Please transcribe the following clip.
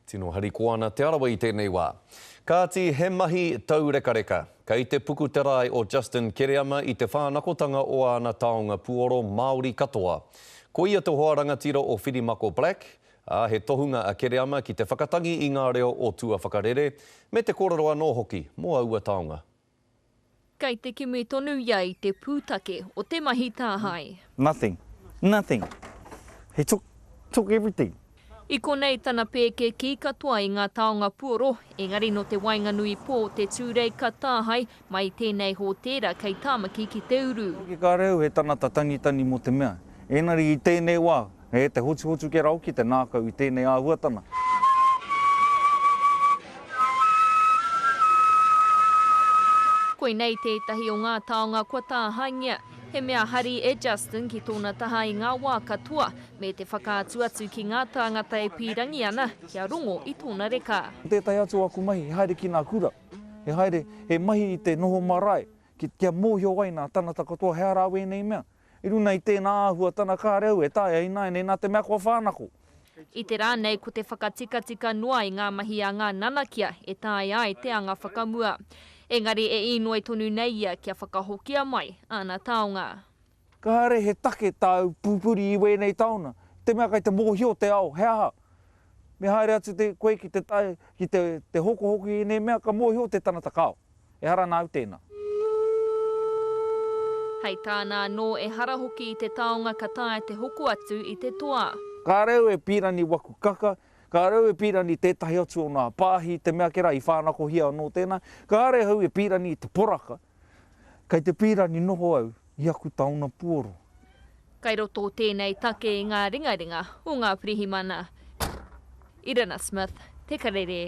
Tino harikoa ana Te Arawa i tēnei wā. Kāti, he mahi taurekareka. Kei te puku te rae o Justin Kereama i te whānakotanga o āna taonga puoro Māori katoa. Ko ia te hoa rangatira o Whirimako Black, ā, he tohunga a Kereama ki te whakatangi i ngā reo o tua whakarere, me te kōrero anō hoki mō aua taonga. Kei te kimi tonu ia i te pūtake o te mahi tāhae. Nothing. Nothing. He took, took everything. I konei tana pēkēkī katoa i ngā taonga puoro, engari nō te waenganui pō o te Tūrei ka tāhae mai i tēnei hōtēra kei Tāmaki ki te uru. Hoki ka reu he tangata tangitani mō te mea, engari i tēnei wā, He te hotuhotu ke rau ki te ngākau i tēnei āhuatana. Koinei tētahi o ngā taonga kua tāhaengia. He mea hari e Justin ki tōna taha i ngā wā katoa, me te whakaatu atu ki ngā tāngata e pīrangi ana kia rongo i tōna reka. Ko tētahi atu o aku mahi he haere ki ngā kura, he haere, he mahi i te noho marae, kia mōhio ai ngā tāngata katoa he aha rāua ēnei mea. I runa i tēnā āhua tana kāreu e taea ināianei nā te mea kua whānako. I te rā nei ko te whakatikatika noa i ngā mahi a ngā nanakia e taea ai te anga whakamua. Engari e īnoi tonu nei ia kia whakahokia mai āna taonga. Kāre he take tāu pupuri i wēnei taona, i te mea kei te mōhio te ao he aha. Me haere atu koe ki te tae ki te hokohoko i ēnei mea ka mōhio te tangata kāo. Ehara nāu tēnā. Hei tāna anō, ehara hoki i te taonga ka taea te hoko atu i te toa. Ka reo e Pirani waku kaka, ka reo e Pirani tētahi atu o nā pāhi, te mea ke rā i whānakohia anō tēnā. Kāre ahau e Pirani i te poraka, kei te Pirani noho au i aku taona puoro. Kei roto tēnei take i ngā ringaringa o ngā pirihimana. Irina Smith, Te Karere.